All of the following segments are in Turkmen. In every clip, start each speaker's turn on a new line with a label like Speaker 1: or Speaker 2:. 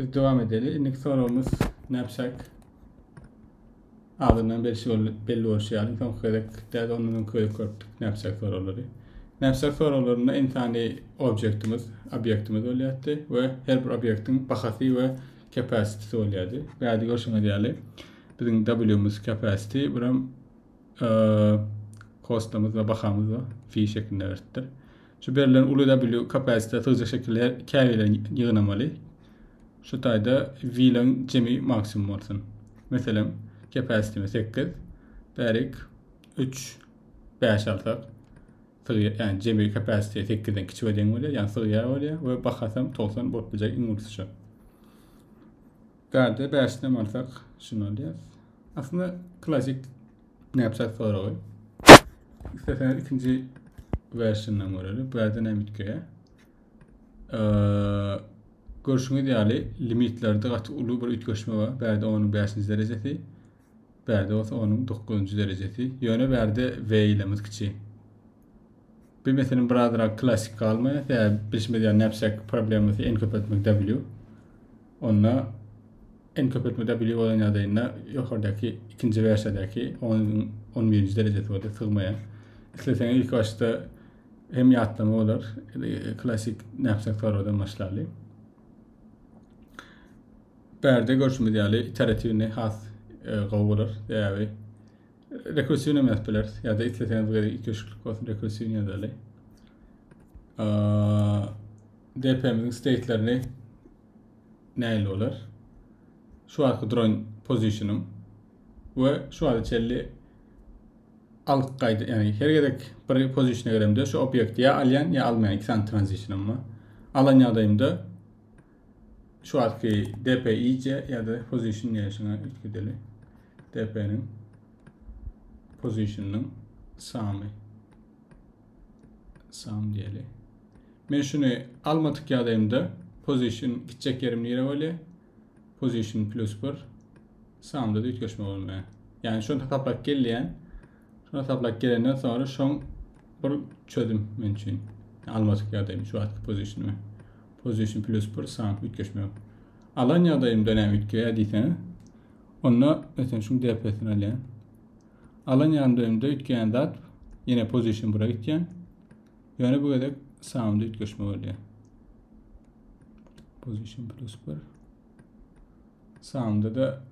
Speaker 1: Biz dowam edeli. Indiki soragymyz näpşak adyndan belli bolşy ýaly, soňky gezek däl ondan öňki gezek görüpdik näpşak soraglary. Näpşak soraglarynda insany objektimiz, obýektimiz bolýardy we her bir obýektiň bahasy we capacity bolýardy. Bärde görşüňiz ýaly biziň W-miz capacity, buram e, kostamyz we bahamyz we fi şeklinde beripdir. Şu berlen uly W kapasite sygyja şekili käbilen ýygnamaly. Şu taýda wilaň jemi maksimum bolsun. Meselem, kapasitemi sekiz, bärik üç, bäş alsak, sygy, ýani jemi kapasite sekizden kiçi we deň bolýar, ýani sygýar bolýar we bahasam togsan bolup biljek iň ulysy şu. Garda bäşden alsak, şuny alýarys. Aslynda klasik Ne yapsak soragy. İstersen ikinci versiyondan görelim. Bu yerden hem bitkiye. Ee, görüşüňiz ýaly limitlerde gaty uly bir üýtgeşme bar. Bärde onuň 5 derejesi, bärde bolsa onuň 9 derejesi. Ýöne bärde V ile kiçi. Bilmeseniň birazrak klasik galma sebäbi bilşimiz ýaly knapsack problemasy en köp etmek w. Onda en köp etmek w bolan ýagdaýynda ýokardaky ikinji wersiýadaky on on birinji derejesi bolsa sygmaýar. Isleseň ilk başda hem ýatlama bolar klasik knapsack torbadan başlaly. Bärde görşümiz ýaly iteratiwni has e, gowy bolar sebäbi Rekursiwnem ýazyp bileris. Ýa-da isleseňiz bir ikişiklik bolsun rekursiwni ýazaly. DP-miziň state-lerini näil bolar? Şu wagtky duran pozisiýonym we şu wagta çenli alyp gaýda, ýagny her gezek bir pozisiýona giremde şu obýekti ýa alýan ýa almaýan iki sany tranzisiýonym bar. Alan ýagdaýymda Şu wagtky DP iýje ýa-da position diýýänşiňe ilki deli. DP-niň position-nyň samy. Sam diýeli. Men şuny almadyk ýagdaýymda position gitjek ýerim nire bolýar? Position plus 1 samda da üýtgeşme bolmaýar. Ýagny şony hasaplap gelýän. Şony hasaplap gelenden soňra şoň bir çözüm men üçin. Almadyk ýagdaýym şu wagtky pozisionymy. Position plus bir sany üýtgeşmek. Alan ýagdaýymda näme üýtgeýär diýseňiz, onda meselem şuň DP-sini alýan. Alan ýagdaýymda üýtgeýän zat ýene position bura gitýän. Ýöne bu gezek soundda üýtgeşme bolýar. Position plus bir. Soundda da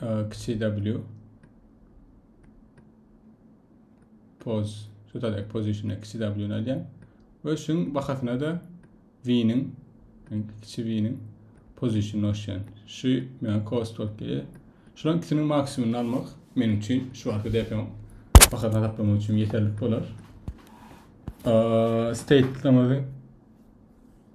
Speaker 1: e, kiçi W. pose total exposition kiçi w ni alýan we şuň bahasyna da v-niň kiçi v-niň position noşýan. Şu men cost bolup gelýär. Şulan ikisiniň maksimumyny almak meniň üçin şu wagtky DP-niň bahasyny hesaplamak üçin ýeterlik bolar. State-lemizin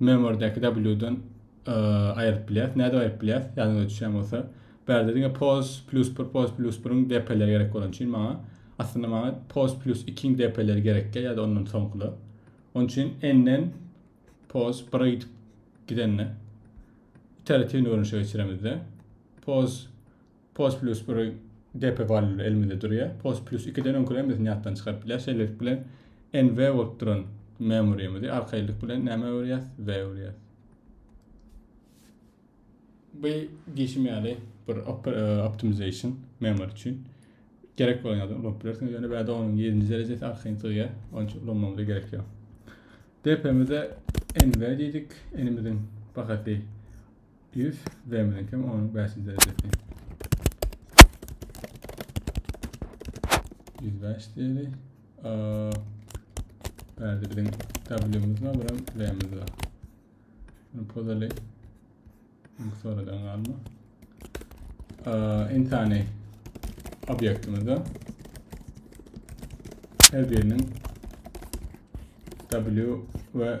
Speaker 1: Memordäki W-dan aýryp bilýäris. Nädip aýryp bilýäris? Ýadyňyza düşýän bolsa, bärde diňe pos plyus bir, pos plyus biriň depeleri gerek bolan üçin maňa aslynda maňa pos plyus ikiň depeleri gerekkä ýa-da ondan soňkular. Onun üçin n-den pos bire gidip gidende iteratiwni görnüşe geçiremizde pos Post Plus bir depe valyut elimizde durýar. Post Plus ikiden öňküler hemmesini ýatdan çykaryp bilýär. Şeýlelik bilen NV bolup duran memoryýmizi arkaýynlyk bilen näme öwürýäs? V öwürýäs. Bu diýşim ýaly bir e, optimization memory üçin gerek bolan ýaly ulanyp bilersiňiz. Ýöne bäde onuň 7-nji derejesi arkaýyn sygýar. Onuň üçin ulanmamyza gerek ýok. DP-mize NV diýdik. N-imiziň bahasy If zemini kim onuň bäşinji derejesi. Ýüz bäş diýeli. Bärde biziň W-miz bar, buram V-miz bar. Bunu pozaly. Çünki sonradan galma. Intani obýektimizde her biriniň W we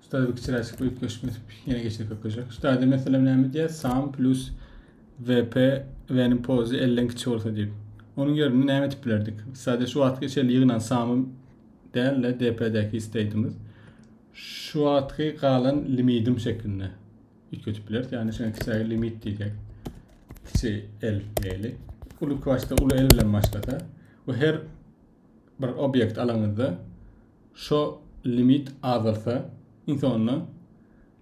Speaker 1: Ştaýda bir kiçiräk çykly üýtgeşik ötüp, ýene geçir köpeljek. Ştaýda meselem näme diýýär? Sum plus VP V-niň pozy 50-den kiçi bolsa diýip. Onuň ýerine näme etip bilerdik? Sadece şu wagtky içeri ýygnan samy däl-de DP-däki isteýdimiz. Şu wagtky galan limidim şeklinde üýtgetip bileris. Ýagny şeýle kiçiräk limit diýjek. Kiçi L diýeli. Uly başda uly L bilen başlasa we her bir obyekt alaňyzda Şo limit azalsa, iň soňunda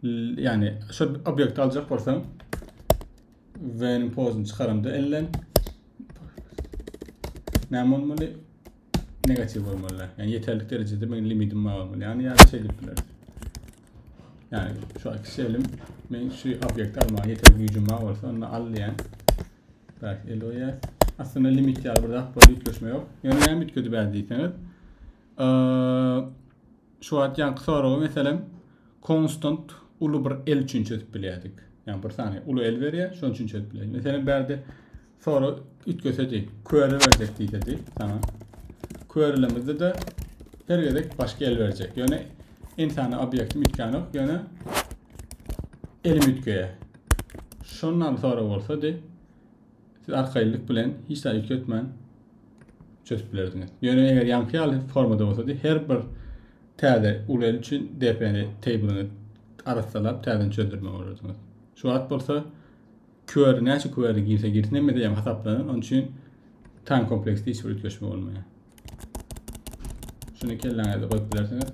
Speaker 1: ýagny şo obýekti aljak bolsaň, when pozyny çykaramda elden näme bolmaly? Negatiw bolmaly. Ýagny ýeterlik derejede meniň limitim bar bolmaly. Ýagny ýa-da şeýle diýip bileris. Ýagny şu iki şelim men şu obýekti almaga ýeterlik güýjüm bar bolsa, onda al diýen. Bäh, Eloýa. Aslynda limit ýaly bir zat boldy, üýtgeşme ýok. Ýöne näme üýtgedi bäri diýseňiz. Şu wagt ýaňky soragy meselem konstant uly bir el üçin çözüp bilýärdik. Ýani bir sany uly el berýär, şonuň üçin çözüp bilýärdik. Meselem bärde soru üýtgesedi, köre berjek diýsedi. Tamam. Körelemizde de her gezek başga el berjek. Ýöne insany obýektim üýtgänok, ýöne elim üýtgeýär. Şondan sonra bolsady, siz arkaýynlyk bilen hiç zat üýtgetmän çözüp bilerdiňiz. Ýöne eger ýaňky ýaly formada bolsady, her bir täze uly üçin DP-ni table'yňy arassalap täzeden çözdürmeli bolardyňyz. Şu wagt bolsa query näçe query girse girsin hemmede ýaňy hasaplanan, onuň üçin time kompleksde hiç bir üýtgeşme bolmaýar. Şuny kelläňizde goýup bilersiňiz.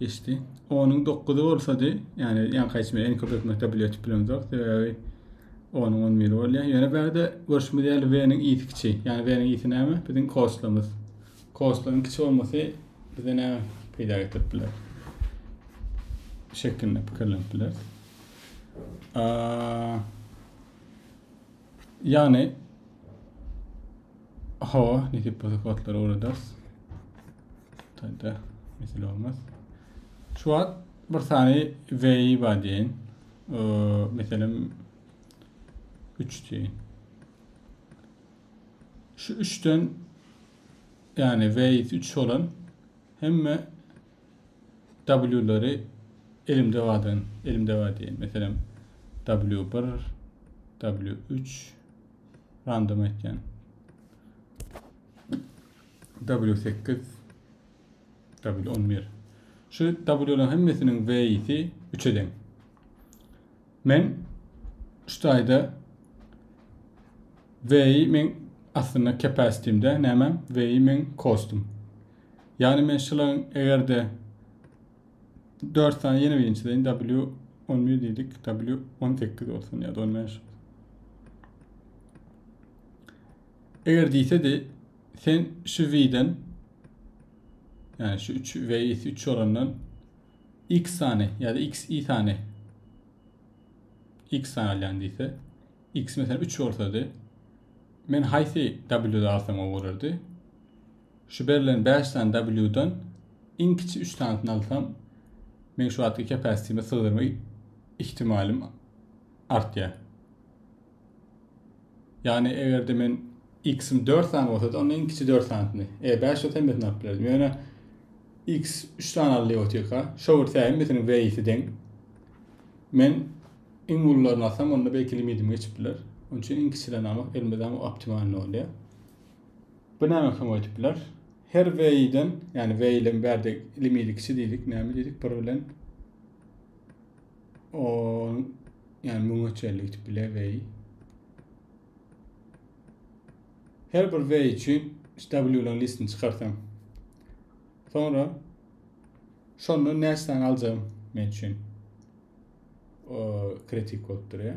Speaker 1: Geçdi. Onun 9-y bolsady, ýani ýaňky aýtmy en köp etmekde bile etip bilemzok. Sebäbi onun 10 mil bolýar. Ýöne bärde görüşmüz ýaly V-niň isi kiçi. Ýani V-niň isi näme? Biziň koslamyz. Koslamyň kiçi bolmasy bize näme peýda getirip biler? Şekilde pikirlenip biler. Ýagny hawa, nesip bolsa kodlary öwrederis. Taýda mesele bolmaz. Şu wagt bir sany VI bar diýen. Meselem 3 diýen. Şu 3-den ýagny VI 3 bolan hemme W-lary elimdebadan, elimdeba diýen, meselem, W bir, W üç, random aýtýan. W sekiz, W on bir. Şu W-laryň hemmesiniň V-si üç eden. Men şu taýda V-i men aslynda capacity-imde, näme? V-i men kostum. Ýagny men şularyň egerde dört sany ýene birinji deýin W11 diýdik, W18 bolsun ýa-da 15. Eger diýsedi, sen şu V-den ýagny şu 3 V 3 olandan X sany ýa-da X i sany X sany alýan diýse, X mesela 3 bolsady, men haýsy W-de alsam gowy bolardy? Şu berlen bäş sany W-dan iň kiçi üç sanysyny alsam, meň şu wagtky capacity-me sygdyrma ihtimalym artýar. Ýagny eger-de men x-im dört sany bolsady, onda iň kiçi dört sanysyny, eger bäş bolsa hemmesini alyp bilerdim. Ýöne x üç sany aldy otyrka, şo bir tä hemmesiniň w-si deň. Men iň ulylaryny alsam, onda belki limitim geçip biler. Onuň üçin iň kiçilerini almak elimde dagyň optimalny bolýar. Bu näme soň öýtüp biler? Her weýden, ýani weýlem bärde ilimili kiçi diýdik, näme diýdik? Bir bilen o ýani müňe çenli gidip biler weý. Her bir weý üçin W-laryň listini çykarsam. Sonra şondan näçe sany aljagym men üçin kritik bolup durýar.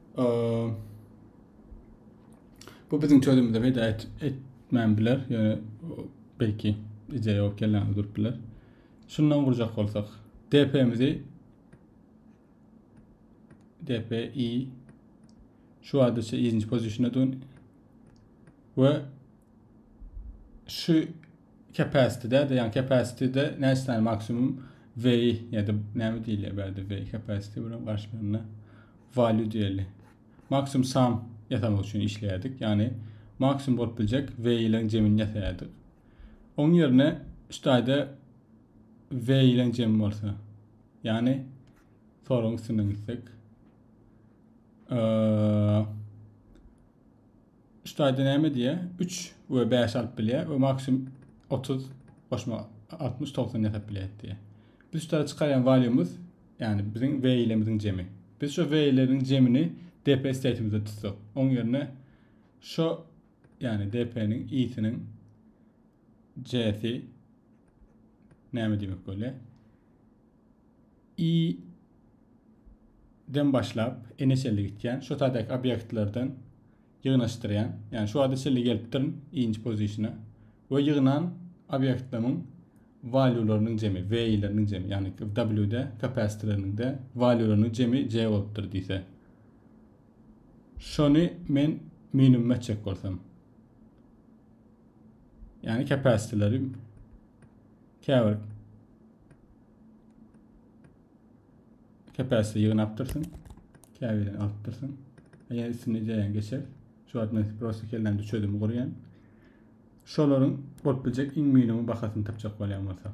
Speaker 1: Bu biziň çözümimize peýda etmän biler, ýöne belki ideýa bolup gelýän durup biler. Şundan gurjak bolsak, DP-mizi DPI şu adyça ikinci pozisiýona dön we Şu capacity-de, yani capacity-de näçe sany maksimum way ýa-da näme diýilýär bärde way capacity bilen garşylygynda value diýeli. Maksimum sum ýasamak üçin işleýärdik. Yani maksimum bolup biljek way-leň jemini ýasaýardyk. Oň ýerine şu taýda way-leň jemi bolsa, yani soruň üstünden gitsek, Ştaýda näme diýýär? Üç we bäşi alyp bilýär we maksimum otuz goşmak altmyş togsan ýasap bilýär diýýär. Biz şu tarawa çykarýan walýumyz, ýagny biziň we ýilerimiziň jemi. Biz şu we ýileriň jemini DP stateimizde tutsak, oň ýerine şu, ýagny DP-niň i-siniň J-si näme diýmek bolýar? I-den başlap N-e çenli gitýän, şu taýdaky obýektlerden ýygnaşdyrýan, ýagny şu wagta çenli gelip durun I-nji pozisiona we ýygnan obýektlemiň walýularynyň jemi, V-leriniň jemi, ýagny W-de, kapasitleriniň-de walýularynyň jemi J bolupdyr diýse. Şony men minimuma etjek bolsam. Ýagny kapasitleri Käbir kepesde ýygnapdyrsyň, käbirden alypdyrsyň. Eger üstüne ideýäň geçer. Şu wagt men prosta kellämde çözüm gurýan. Şolaryň bolup biljek iň minimum bahasyny tapjak bolýan bolsa.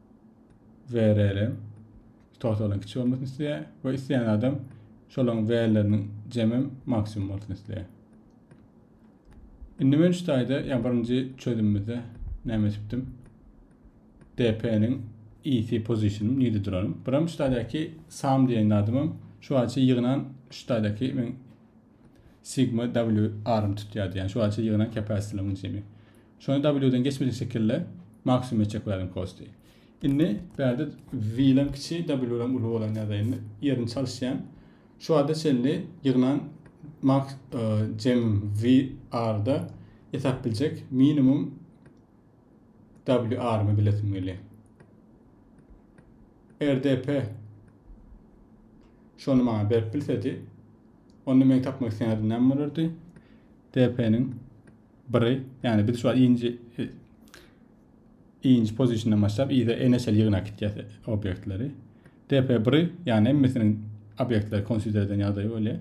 Speaker 1: VRL totalyn kiçi bolmasyn isleýär we isleýän adam şolaryň VRLleriniň jemem maksimum bolsun isleýär. Indi men şu taýda, ýa birinji çözümimizde näme etipdim? DP-niň EC position nirde duranym. Biram şu taýdaky sum diýen zadymam şu wagtça ýygnan şu taýdaky men sigma WR-ym tutýardy. Ýani şu wagtça ýygnan capacity-laryň jemi. Şony W-den geçmejek şekilde maksimum etjek welin posty. Indi bärde V-lem kiçi, W-lem uly bolan ýagdaýynda ýerini çalyşýan. Şu wagta çenli ýygnan max e, jem VR-da etap biljek minimum WR-my bilesim gelýär. RDP şony maňa berip bilsedi, onda meň tapmak isleýän adym näme bolardy? DP-niň biri, ýagny biz şu inji inji pozisiýadan başlap ýa-da eneşeli ýygnak gitýär obýektleri. DP1, ýagny hemmesiniň obýektleri konsider eden ýagdaýy bolýar.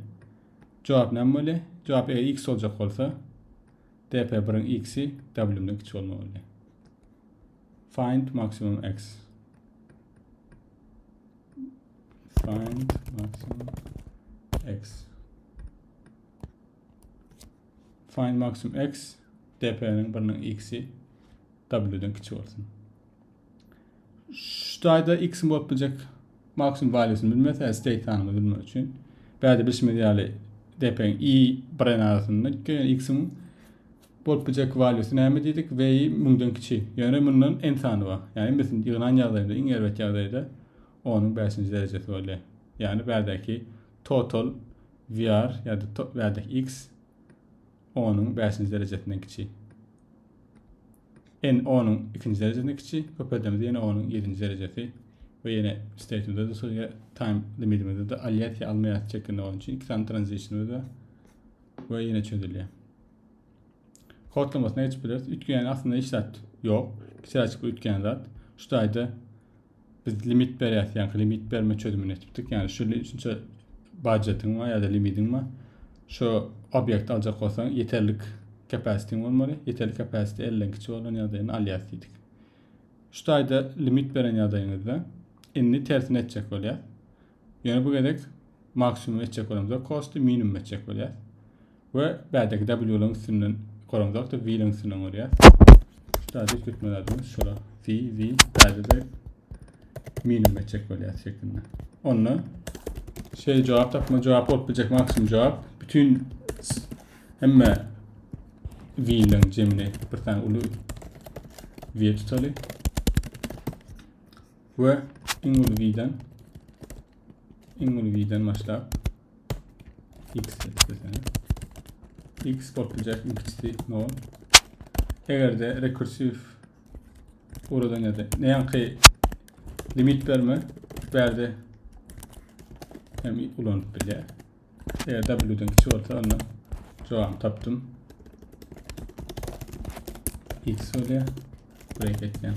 Speaker 1: Jogap näme bolýar? Jogap eger x boljak bolsa, DP1-iň x-i W-den kiçi bolmaly bolýar. Find maximum x. Find maximum x. Find maksimum x dp'niň biriniň x'i w'den kiçi bolsun. Şu taýda x-iň bolup biljek maksimum valýusyny bilmese, yani state sanyny bilmek üçin bäde bilşimiz ýaly dp'niň i biren arasynda gitdi. Yani x-iň bolup biljek valýusy näme diýdik? V-i 1000-den kiçi. Yani mundan n sany bar. Yani hemmesini ýygnan ýagdaýynda, iň erbet ýagdaýda 10-yň 5-nji derejesi bolýar. Yani bädäki total VR ýa-da top werdek X onuň bäşinji derejesinden kiçi. N onuň ikinji derejesinden kiçi, köperdemizde ýene onuň ýedinji derejesi we ýene statemizde-de şol ýa time limidimizde-de alýas ýa almaýas çekinde bolan üçin iki sany transitionimiz bar we ýene çözülýär. Kodlamasyna geçip bileris. Üýtgeýän aslynda hiç zat ýok. Kiçiräçik bir üýtgeýän zat. Şu taýda biz limit berýäs, ýa limit berme çözümini etipdik. Ýa şu şunça budjetiň we ýa-da limidiň we şu obyekt aljak bolsaň, ýeterlik kapasitiň bolmaly. Ýeterlik kapasiti 50-den kiçi bolan ýagdaýyny alýas diýdik. Şu taýda limit beren ýagdaýyňyzda indi tersini etjek bolýar. Ýöne bu gezek maksimum etjek bolamzok kosty minimum etjek bolýas. We bädeki W-laryň üstünden goramzok da V-laryň üstünden gorýas. Şurada hiç gitme zadymyz şura V, V, bäde de minimum etjek bolýas şeklinde. Onda şey cevap tapma cevap bolup biljek maksimum cevap bütün hemme V-laryň cemini bir tane ulu V tutaly. we iň ulgiden iň ulgiden başlap x desene x bolup biljek iň kiçisi 0 eger de rekursiv uradan ýa-da näki limit berme bärde hem ulanyp bilýär eger w-den kiçi bolsa onda jogabyny tapdym x bolýar break etýän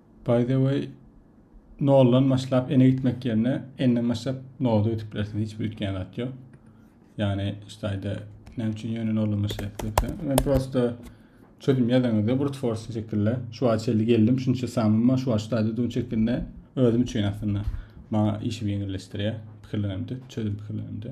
Speaker 1: By the way noldan başlap ene gitmek yerine enden başlap noda ötüp bilersiň hiç bir ütgen zat yok. Yani işte ayda ne için yönün olma şey etmekse. Ben prosta çözüm yazanızda brute force şekilde şu an çeldi geldim şunça samim var şu an şu ayda dün şeklinde özüm için aslında bana işimi yenileştiriyor. Fikirlerimde çözüm fikirlerimde.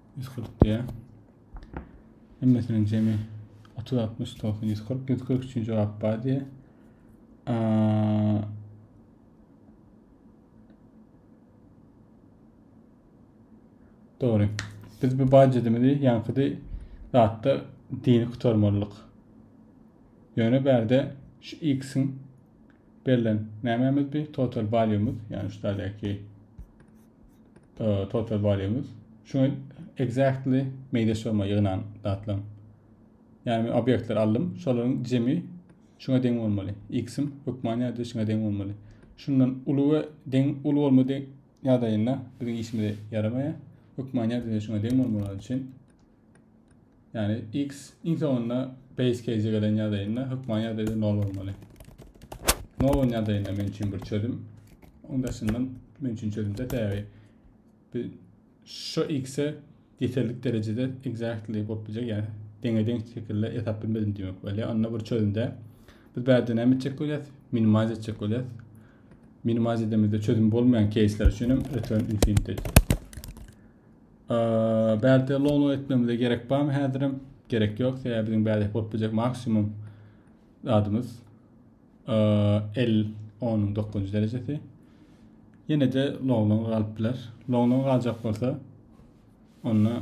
Speaker 1: ýüz kyrk diýýär. Hemmesiniň jemi otuz, altmyş, togsan, ýüz kyrk. Ýüz kyrk üçin jogap bar diýýär. Dogry. Biz bu bajedimizi ýaňkydy zatda dini gutarmalyk. Ýöne bärde şu x-iň Berlen nämemiz bi total value'myz, ýagny şu taýdaki total value'myz. Şuňa exactly meýde şoma ýygnan zatlaň. Ýagny men obýektleri aldym, şolaryň jemi şuňa deň bolmaly. X-im hökman ýa-da şuňa deň bolmaly. Şundan uly we deň uly bolmady ýagdaýynda biziň işimize ýaramaýar. Hökman ýa-da şuňa deň bolmaly üçin Yani x iň soňunda base case gelen ýagdaýynda hökman ýagdaýda nol bolmaly. Nol bolan ýagdaýynda men üçin bir çözüm. Onuň daşyndan men üçin çözümde täbi. Bir şu x-e ýeterlik derejede exactly bolup biljek, ýa deňe-deň şekilde ýasap bilmedim diýmek bolýar. Onda bir çözümde biz bärde näme etjek bolýarys? Minimize etjek bolýarys. Minimize edemizde çözüm bolmaýan case'ler üçin hem return infinity. Bärde low etmemize gerek barmy häzirem? Gerek ýok. Sebäbi biziň bärde bolup biljek maksimum zadymyz 50 10 9 derejesi. Ýene de lowlan galyp biler. Lowlan galjak bolsa onda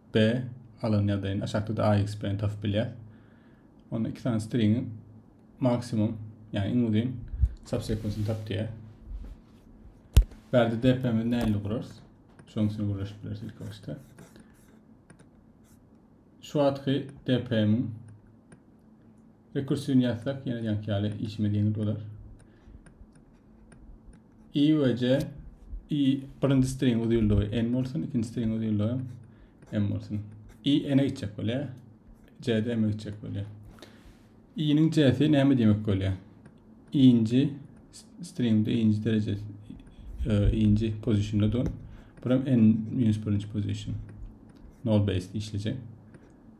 Speaker 1: B alan ýagdaýynda aşakda AX bilen tapyp bilýär. Onda iki sany stringiň maksimum, ýagny iň uzyn subsequence-ni tap diýär. Bärde DP-mizi nähili gurarys? Şoň üçin gürleşip bileris ilk başda. Şu wagtky DP-miň Rekursiwini ýazsak, ýene ýanky ýaly işimiz ýeňil bolar. I we J i birinji string uzynlygy n bolsun, ikinji string uzynlygy m bolsun. I n-e gitjek bolýar. J de m-e gitjek bolýar. I-niň J-si näme diýmek bolýar? Inji stringde inji dereje e, inji pozisyonda dur. Buram n-1 position. Null base işlejek.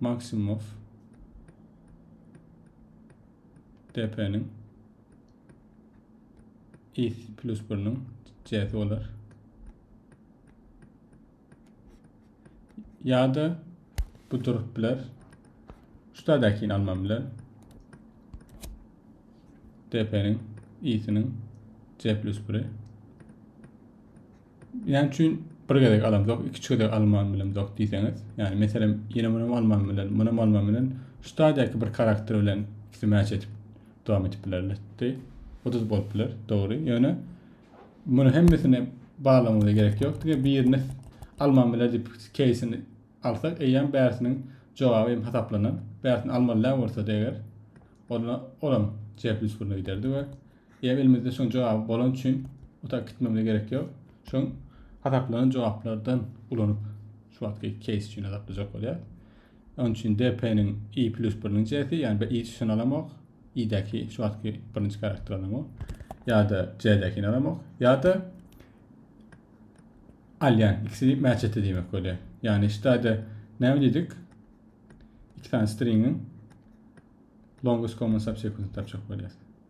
Speaker 1: Maksimow depeniň is plus biriniň cesi bolar. Ya da bu durup biler. Şuradakini almam bilen. Depeniň isiniň c plus biri. Näme üçin bir gezek alamzok, ikinji gezek alman bilemzok diýseňiz, ýani meselem, ýene munam alman bilen, munam alman bilen, şu stadiýaky bir karakter bilen ikisi mäç edip dowam edip bilerdi. Oduz bolup biler, dogry. Ýöne muny hemmesini barlamagyna gerek ýok. Diňe birini alman biler diýip keýsini alsak, eýýäm bärsiniň jogaby hem hasaplanan. Bärsini almaly bolsa-da eger, onda olam cepli üstüne giderdi we Eýe elimizde şoň jogaby bolany üçin otag gitmemize gerek ýok. Şoň hasaplanan jogaplardan ulanyp şu wagtky keýs üçin hasaplajak bolýar. Onuň üçin DP-niň i plus biriniň J-si, ýagny bir i çyşyny alamok, i-däki şu wagtky birinji karakter alamok, ýa-da J-däkini alamok, ýa-da alýan ikisi match etdi diýmek bolýar. Ýagny şu taýda näme diýdik? Iki sany stringiň longest common subsequence tapjak bolýar.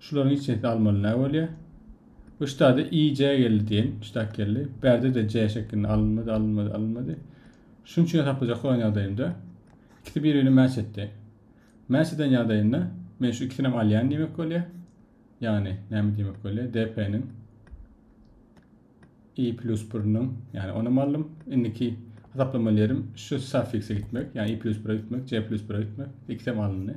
Speaker 1: Şularyň içesini almaly nä bolýar? Bu ştada i, j geldi diýeýin. Ştag geldi. Bärde-de j şeklinde alynmady, alynmady, alynmady. Şunuň üçin hesaplajak bolan ýagdaýymda ikisi bir-birine mäç etdi. Mäç eden ýagdaýynda men şu ikisinem alýan diýmek bolýar. Ýagny näme diýmek bolýar? DP-niň i plus 1-niň, ýagny onam aldym. Indiki hesaplamaly ýerim şu suffikse gitmek, ýagny i plus 1-e gitmek, j plus 1-e gitmek. Ikisem alyndy.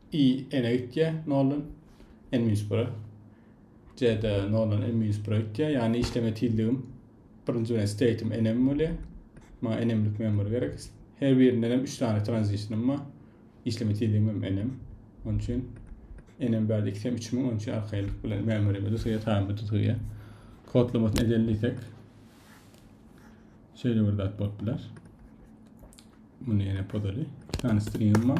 Speaker 1: I. N-e gitýär, noldan N minus bire. C-de noldan N minus bire gitýär. Ýagny işleme tizligim birinji bilen state'im N-em bolýar. Maňa N-emlik member gerek. Her birinden hem 3 sany transition'ym bar. İşleme tizligim hem N-em. Onun üçin N-em bärde 2 hem 3 müň, onun üçin arkaýynlyk bilen memberime düzgüýe, taýma düzgüýe. Kodlamasyny edelim diýsek. Şeýle bir zat bolup biler. Bunu ýene podaly. 2 sany string'im bar.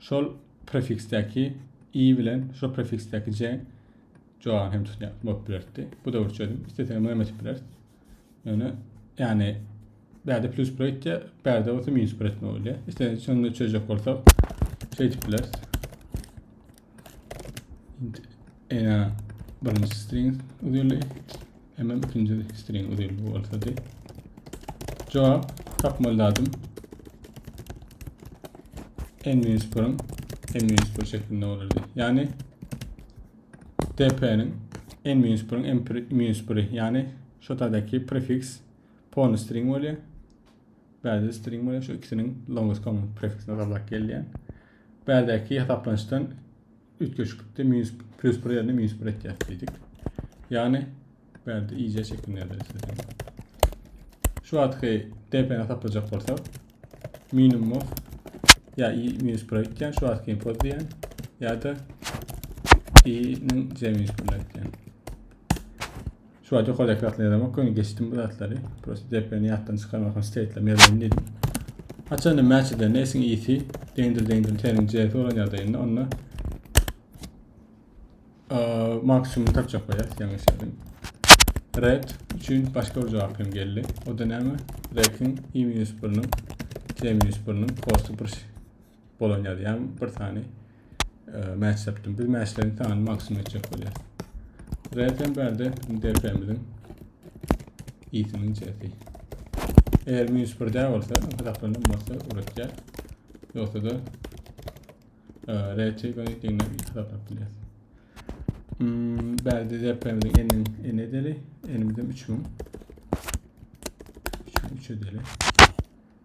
Speaker 1: şol prefiksdäki i bilen şol prefiksdäki j jogany hem tutýar bolup bilerdi. Bu da bir çözüm. Istesek hem etip bileris. Ýöne ýagny bärde plus bir etýär, bärde bolsa minus bir etme bolýar. Istesek şonda çözjek bolsak, şeýdip bileris. int ena birinji string uzynly hemen ikinji string uzynly bolsady cevap tapmaly dadım en minus birin en minus bir şeklinde olurdu yani dp'nin en minus birin en minus biri yani şotadaki prefiks pony string bolýar bäzi string bolýar şu ikisiniň longest common prefiksine gabat gelýär Bärdäki hasaplanyşdan üýtgeşiklikde minus plýus bir ýerine minus bir etýäs diýdik. Ýagny bärde iýje şeklinde ýazylyşyny. Şu wagtky DP-ni hasaplajak bolsak, minimum of ýa i minus bir etýän, şu wagtky info diýen ýa-da i-niň c minus bir etýän. Şu wagt ýokardaky zatlary ýazamok ýöne geçdim bu zatlary prosta deplerini ýatdan çykarmak üçin steytlem ýazaýyn diýdim. Haçanda match edende esiň ýiti deňdir deňdir seniň CS bolan ýagdaýynda onda maksimum tapjak bolýas ýaňy işledim. Red üçin başga bir jogap hem geldi. O da näme? Rekin i-1-niň C-1-niň kosty bir bolan ýazýan bir sany e, match tapdym. Biz matchleriň sanyny maksimum etjek bolýar. Zaten bärde DP-miziň isiniň çesi. Eger minus bir dä bolsa, hasaplanan bolsa uratýar. Yoksa da e, reti göni diňle hasaplap bilýär. Hmm, bärde DP-miziň enin en edeli, enimizin 3000. 3000 edeli.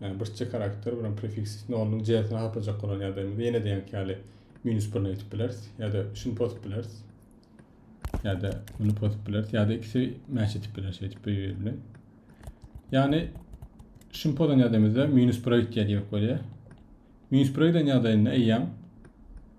Speaker 1: Ýagny bir çe karakter bilen prefiks nolunyň j-sini harplajak bolan ýagdaýymyzda ýene-de ýaňky ýaly minus birini aýdyp bileris ýa-da şuny pozup bileris. Ýa-da muny pozup bileris ýa-da ikisi mäç edip biler şeýdip bir-biri bilen. Ýagny şuny pozan ýagdaýymyzda minus 1-e gitýär diýmek bolýar. Minus 1-e giden ýagdaýynda eýýäm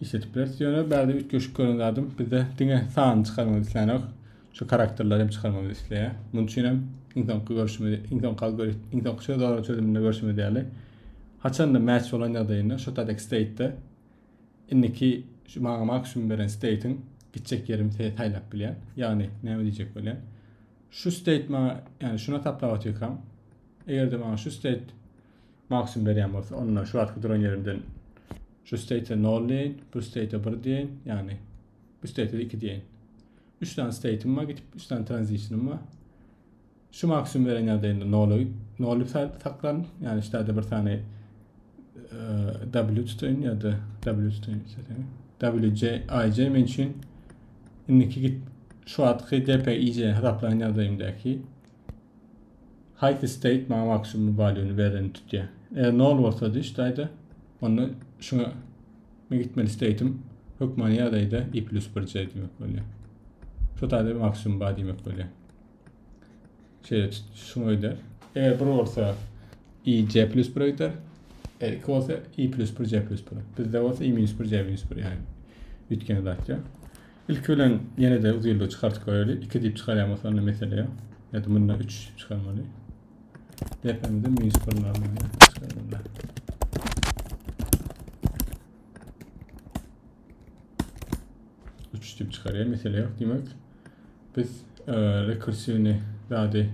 Speaker 1: Işledip bileris ýöne bärde üýtgeşik gören zadym bizde diňe sany çykarmagy islänok. Şu karakterleri hem çykarmagy isleýär. Munuň üçin hem iň soňky görüşimiz, iň soňky algoritm, iň soňky söz aralary çözüminde görüşimiz ýaly. Haçanda match bolan ýagdaýynda şu taýdaky state-de indiki şu maňa maksimum beren state-iň gitjek ýerim saýlap bilýän. Ýagny näme diýjek bolýan? Şu state maňa, ýagny şuna taplap atýarkam, eger-de maňa şu state Maksimum berýän bolsa, onda şu wagtky duran ýerimden şu state-e 0 diýeýin, bu state-e 1 diýeýin, ýagny bu state-e 2 diýeýin. 3 sany state-im bar, gitip 3 sany transition-ym bar. Şu maksimum beren ýagdaýynda 0-y 0 saklan, ýagny şu ýerde bir sany W tutayım ya da W tutayım istedim. WJ, IJ men üçin indiki git şu atki DPIJ hesaplanan ýagdaýymdaky Haýsy state maňa maksimum valýuny bereni tutýa. Eger nol bolsady şu taýda onda şuňa men gitmeli state'im hökmany ýagdaýda i plus bir c diýmek bolýar. Şu taýda maksimum bar diýmek bolýar. Şeýle tut şuňa gider. Eger bir bolsa i c plus bir gider. Eger iki bolsa i plus bir c plus bir. Bizde bolsa i minus bir c minus bir ýaly üýtgen zat ýok. Ilki bilen ýene-de uzyldygy çykartyp göreli. Iki diýip çykarýan bolsa onda mesele ýok. Ýa-da munda üç çykarmaly. Depemizde minus bir normalýa çykarmaly. düşüp çıkarıyor. Mesele yok demek. Biz e, rekursivni zade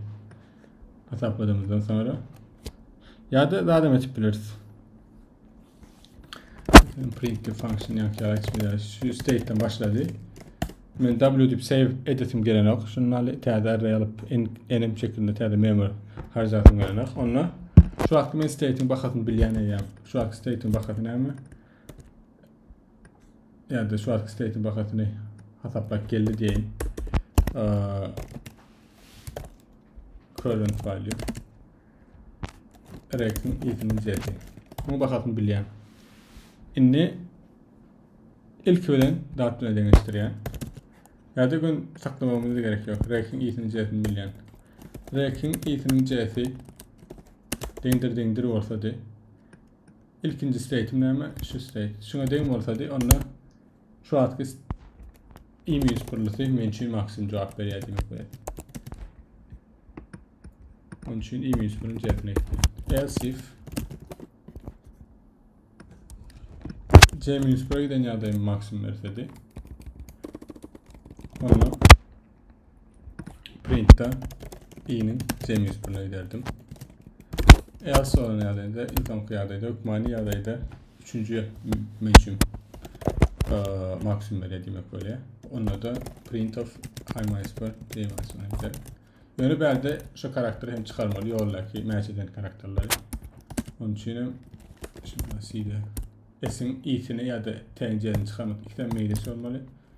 Speaker 1: hesapladığımızdan sonra ya da zade etip biliriz. Men print the function ýa ýa hiç bir şu state'den başlady. Men w dip save edesim gelen yok. Şunun aly täze array alyp enim şekilde täze memory harjasym gelen yok. Onda şu wagt men state'in bahasyny bilýän eýäm. Şu wagt state'in bahasy näme? Yani de şu wagt state'in bahasyny hasaplap geldi diýeýin. Ee, current value Rex'in isini düzeldi. Muň bahasyny bilýän. Indi ilki bilen dat bilen deňeşdirýän. Ýa-da gün saklamamyz gerek ýok. Rex'in isini düzeldi bilýän. Rex'in isini düzeldi. Deňdir deňdir bolsady. İlkinci state'im näme? Şu state. Şuna deň bolsady, onda Şu wagtky iň büyük spyrlysy men üçin maksimum jogap berýär diýmek bolar. Onun üçin iň büyük spyrlysy cebine gitdi. Else if C minus 1'e giden ýagdaýym maksimum bersedi. Onda printda i-niň jemi üstüne giderdim. Eger soran ýagdaýda, iň soňky ýagdaýda, hökmany ýagdaýda üçünji menşim maksimum berýär diýmek bolýar. Onda da print of i minus 1 diýmek üstüne gider. Ýöne bärde şu karakteri hem çykarmaly ýoldaky mäç eden karakterleri. Onun üçin hem şimdi side s-iň i-sini ýa-da t-ni jemi çykarmak ikisi hem meýlis bolmaly.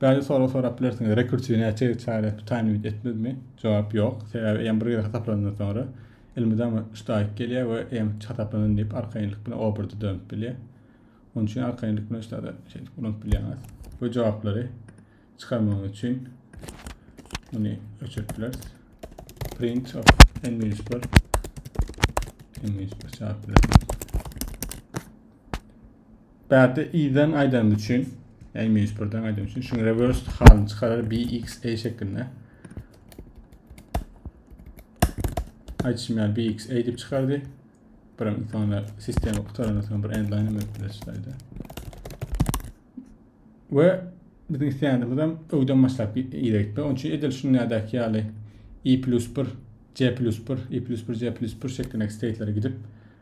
Speaker 1: Bäzi sorag sorap bilersiňiz, rekursiw näçe ýyl çaýýar, bu taýyn ümit etmezmi? Jogap, ýok, sebäbi EM bir gezek hasaplanandan soňra, elmydama üç daýyk gelýär we EM hiç hasaplanyn diýip arkaýynlyk bilen obrda dönüp bilýär. Onuň üçin arkaýynlyk bilen şulary şeýdip ulanyp bilýäňiz we jogaplary çykarmagyňyz üçin muny öçürip bileris. Print of n-1 n-1 çykaryp bilersiňiz. Bärde i-den aýdanymy üçin, i minus 1-den aýdanymy üçin şuň reverse halyny çykarar b x a şeklinde. Aýtşym ýaly b x a diýip çykardy. Birim sonra sistema gutarandan sonra bir end line edip bileşdirdi. We biziň isleýänimiz hem öwden başlap ýere gitmek. Onuň üçin edil şuňadäki ýaly i plus 1 C plus 1, I plus 1, C plus 1 şeklindeki state'lere gidip,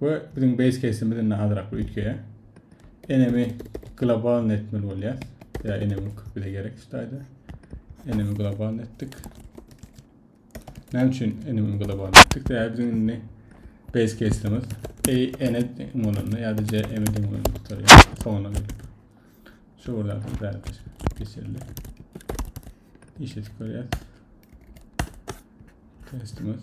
Speaker 1: We biziň base case'imiz indi azrak bir ütgeýär. Enemi globalny etmeli bolýar. Ya enemi bize gerek ştaýda. Enemi globalny etdik. Näme üçin enemi globalny etdik? Sebäbi biziň indi base case'imiz A ene deň bolanda ýa-da C M deň bolanda gutarýar. Soňuna gelip. Şu bir zatdan bäridir. Geçildi. İşe tükürýär. Testimiz.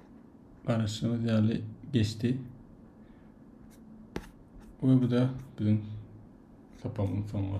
Speaker 1: Garaşdygyňyz ýaly geçdi. We bu da biziň sapagyň soňy.